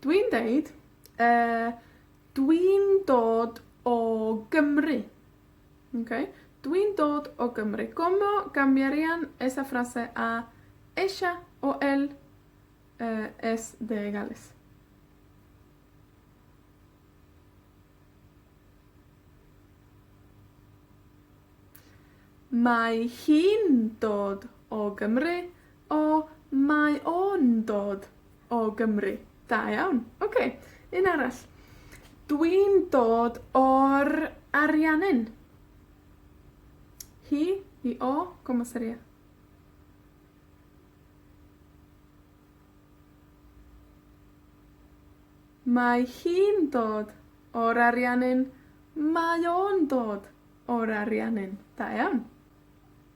Dwi'n deud yy, dwi'n dod o Gymru. Oce? Dwi'n dod o Gymru. Como cambiarían esa frase a ella o él yy es de Gales? Mae hi'n dod o Gymru. O, mae o'n dod o Gymru. Da iawn. Oce, un arall. Dwi'n dod o'r Ariannin. Hi, hi, o, como seria? Mae hi'n dod o'r Ariannin. Mae o'n dod o'r Ariannin. Da iawn.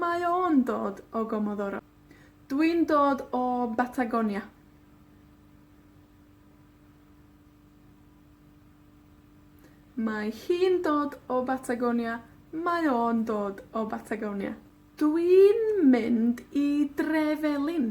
Mae o'n dod o Gomodoro. Dwi'n dod o Batagonia. Mae hi'n dod o Batagonia. Mae o'n dod o Batagonia. Dwi'n mynd i dre felin.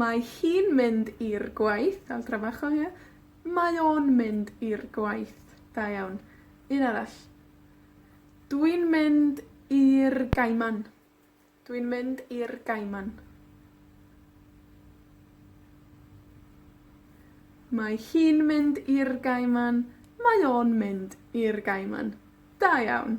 Mae hi'n mynd i'r gwaith. El trabajo hi. Mae o'n mynd i'r gwaith. Da iawn. Un arall. Dwi'n mynd i'r Gaiman. Dwi'n mynd i'r Gaiman. Mae hi'n mynd i'r Gaiman. Mae o'n mynd i'r Gaiman. Da iawn.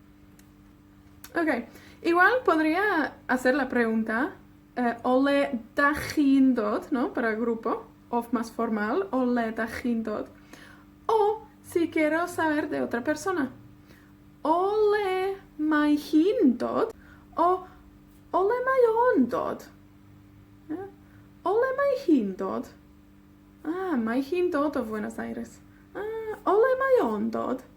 Oce, i weld Bodria a Sela Brown da, yy o le 'dach chi'n dod, no para grupo, of más formal o le 'dach chi'n dod, o si quiero saber de otra persona, o le mae hi'n dod, o o le mae o'n dod, ia? O le mae hi'n dod. Ah, mae hi'n dod o Fuenos Aires. Ah, o le mae o'n dod?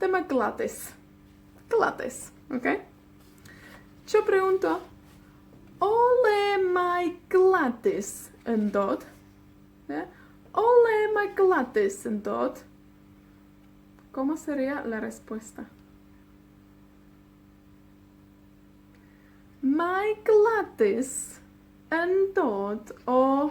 Dyma Gwladys. Gwladys, oce? Tŷ brown 'do? O le mae Gwladys yn dod? Ia? O le mae Gwladys yn dod? Como sería la respuesta? Mae Gwladys yn dod o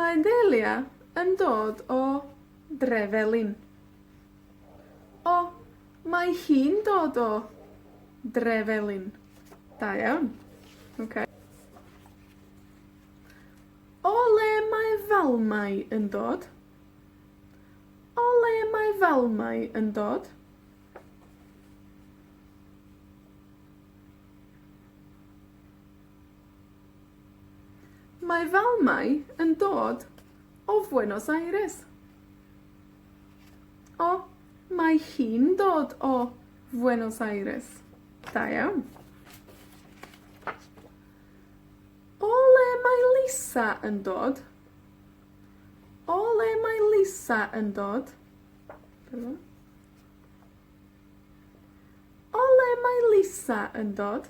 Mae Delia yn dod o Drefelin. O, mae hi'n dod o Drefelin. Da iawn. Oce. O le mae Falmai yn dod? O le mae Falmai yn dod? Mae fal 'mae yn dod o Fuenos Aires. O, mae hi'n dod o Fuenos Aires. Da iawn. O le mae Lisa yn dod? O le mae Lisa yn dod? Dyna fo. O le mae Lisa yn dod?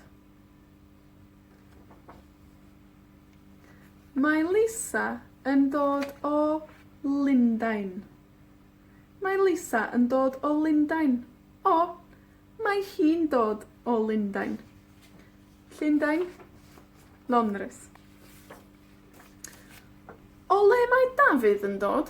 Mae Lisa yn dod o Lundain. Mae Lisa yn dod o Lundain. O, mae hi'n dod o Lundain. Llundain. Londres. O le mae Dafydd yn dod?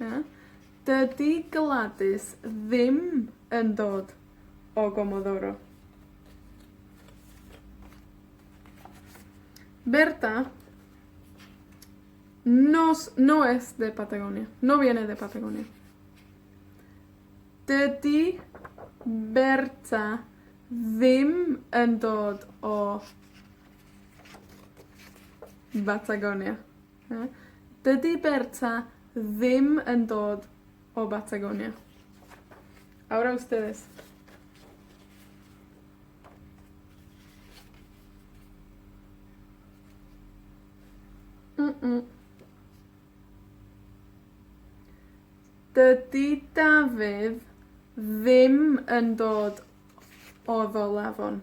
Na? Dydi Gwladys ddim yn dod o Gomodoro. Berta, nos, no es de Patagonia. No viene de Patagonia. Dydi Berta ddim yn dod o Batagonia. Na. Dydi Berta ddim yn dod o Batagonia. Awr ow Ystyris. Mm mm. Dydi Dafydd ddim yn dod o Ddyl Afon.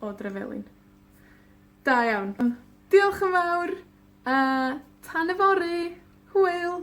o Dryfelin. Da iawn. Diolch yn fawr, a tan yfory! Hwyl!